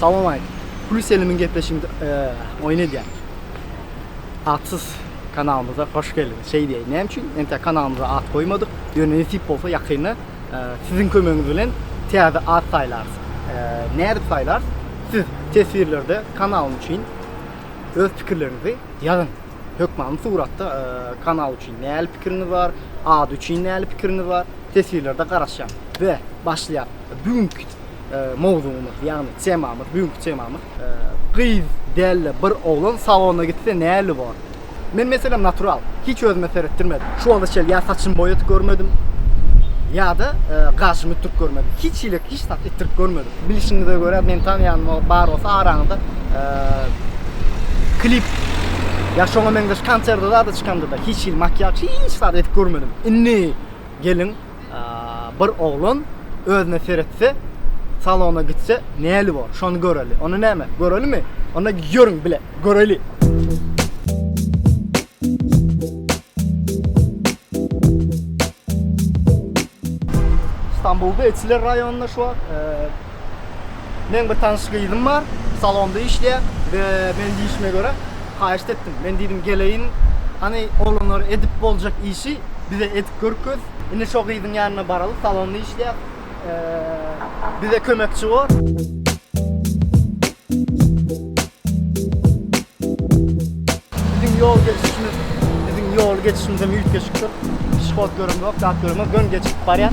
Salam aýt. Pul selimiň gepleşigini oýun edýän. Atsyz kanalymyza hoş geldiňiz. Şeý diýeýin. Näme üçin entä kanalymyza at goýmadyk? Ýöne nesip bolsa ýakynda siziň kömegiňiz bilen täze at saýlarys. Nädip saýlarys? Siz teswirlerde kanalym üçin öz pikirleriňizi ýazyň. Hökmany suratda e, kanal üçin näli pikiriňiz bar, ad üçin näli pikiriňiz bar, teswirlerde garaşýan. Be, başlaýar. Bugünkü e, mowzugymyz, ýagny temamyz, bugünkü temamyz e, gyz dälle bir oglan salona gitse näli bor? Men meselem natural, hiç özüme seretdirmedim. Şu wagta çel ýa saçymy boýatyp görmedim, ýa-da e, gaşymy tutip görmedim. Hiç hilik hiç zat etdirip görmedik. Bilişiňize görä men tanýanyma bar bolsa araňyzda klip ya şoňa meňzeş konserde zada çykanda da hiç hil makiýaç hiç zat edip görmedim. Indi gelin bir oglan özüne seretse salona gitse näli bor şony göreli. Ony näme görelimi? Onda ýörüň bile göreli. Stambulda Etiler raýonynda şu wagt meň bir tanyş gyzym bar. Salonda işleýär we men diýişime görä haýyşt etdim. Men diýdim geleýin, hany oglanlar edip boljak işi bize edip görkez. Indi şo gyzyň ýanyna baraly, salonda işleýär. Bize kömekçi bol. Biziň ýol geçişimiz, biziň ýol geçişimiz hem üýtgeşikdir. Pişihod görüm ýok, zat görüm ýok, ýöne geçip barýar.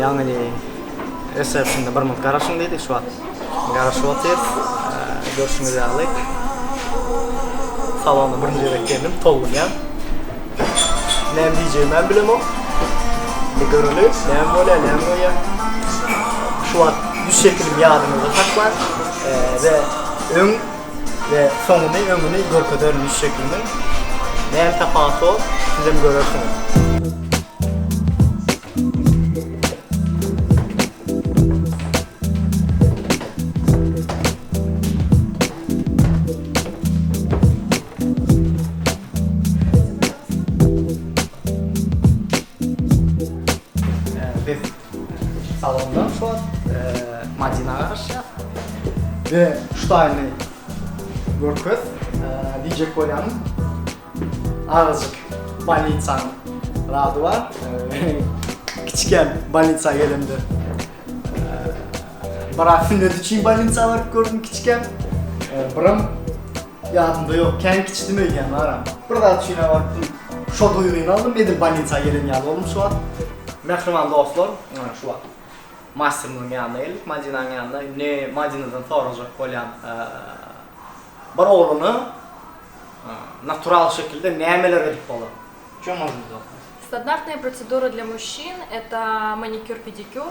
Ýaňy resepsinde bir minut garaşyň diýdik, şu wagt garaşyp otyr. Görşüňiz ýaly, salona birinji gezek geldim, tolgunýan. Näme diýjegimi hem bilemok. Indi göreli, näme bolýar, näme goýýar. Şu wagt ýüz şekilim ýadyňyzda saklaň we öň we soňuny öňüni görkezerin iş şekliniň näme tapaty bor sizem görersiňiz. Salondan soň Madina garaşýas. Be, şutaýyny görkez diýjek bolýaryn. Azajyk bolnitsanyň zady bar. Kiçikäm bolnitsa gelemde. Brak sünnet üçin bolnitsa baryp gördüm kiçikäm. Biram Ýadymda ýok, kän kiçidimi öýdýän baram. Bir zat üçinem barypdym. Şo duýgyny aldym, edil bolnisa gelen ýaly boldum şu wagt. Mähriban dostlar, ine şu wagt masterimiziň ýanyna geldik, Madinanyň ýanyna. Indi Madinadan sorajak bolýan bir ogluna natural şekilde nämeler edip bolar? Ço możnit? Standartnýa procedura dla muşşin, eta manikýur-pedikýur.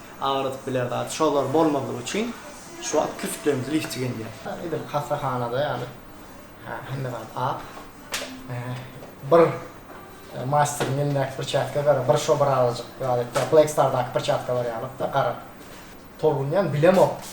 Agyrydyp biler zat şolar bolmazlygy üçin şu wagt kürtlerimizi lifti gelýär. Edil hassahanada ýaly hemme zat ak. Bir masteriň elindäki pirçatka gara bir şo birazajyk ýaly Black Star daky pirçatka bar ýalyk da gara tolgunýan bilemok.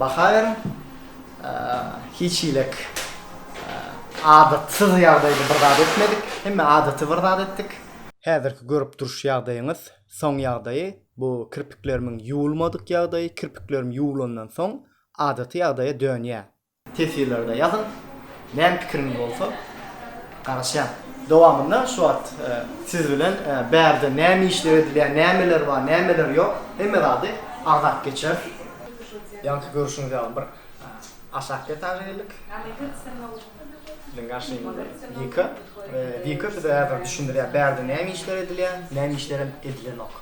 Baha beriň. Hiç hilik adatsyz ýagdaýda bir zat etmedik. Hemme adaty bir zat etdik. Häzirki görüp duruş ýagdaýyňyz soň ýagdaýy, bu kirpiklerimiň ýuwulmadyk ýagdaýy, kirpiklerim ýuwulandan soň adaty ýagdaýa dönýär. Teswirlerde ýazyň. Meniň pikrim bolsa garaşýan. Dowamynda şu wagt siz bilen bärde näme işler edilýär, nämeler bar, nämeler ýok hemme zady agzap geçeris. Ýaňky görüşiňiz ýaly bir aşak etaža geldik. Biziň garşymyzda Wika we Wika bize häzir düşündirýär bärde näme işler edilýär, näme işlerem edilenok.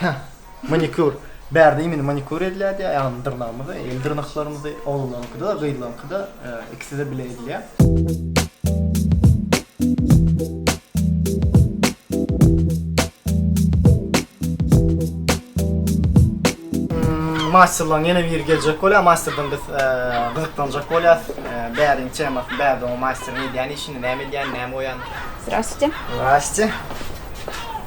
Hä, manikýur. Bärde imini manikýur edilýärdi, aýagyny, dyrnagymyzy, el dyrnaklarymyzy, oglanyňky-da, gyzlaryňky-da, ikisi-de bile edilýär. Masterlaň ýene biri geljek bolýar, masterden biz gyzyklanjak bolýarys. Bäriň temasyny, bärde oňa masteriň edýän işini, näme edýäni, näme goýýany. Zdrastwytýe. Zdrastwytýe.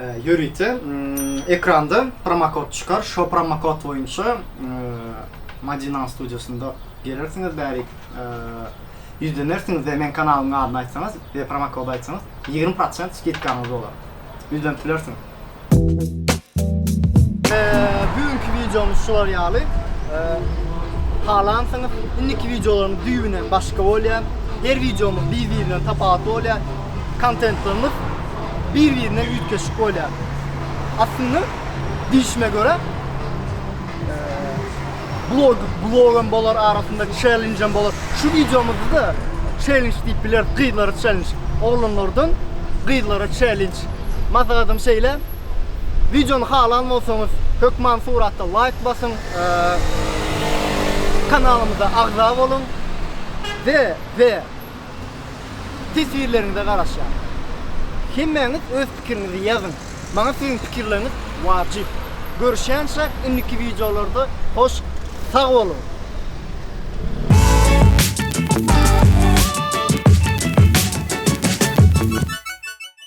Ýörite ekranda promokod çykar. Şo promokod boýunça Madinan studiýasynda gelersiňiz bärik. Ýüzlenersiňiz we men kanalyň adyny aýtsaňyz we promokod aýtsaňyz 20% skidkaňyz bolar. Ýüzlenip bilersiňiz. Bu günki wideomyz şular ýaly. Halansyňyz indiki wideolaryň düýbünden başga bolýar. Her wideomyz bir-birinden tapawutly bolýar. kontentlerimiz bir-birine üýtgeşik bolýar. Aslynda diýişime görä, blog, blogam bolar arasynda çellenjem bolar. Şu wideomyzda da çellenj diýip bileris, gyzlara çellenj. Oglanlardan gyzlara çellenj. Maslahatym şeýle. Wideony halan bolsaňyz, hökman suratda laýk basyň. Kanalymyza agza boluň. Ve ve teswirleriňize garaşýan. Hemmäňiz öz pikiriňizi ýazyň. Maňa siziň pikirleriňiz wajyp. Görüşýänçä indiki wideolarda hoş sag boluň.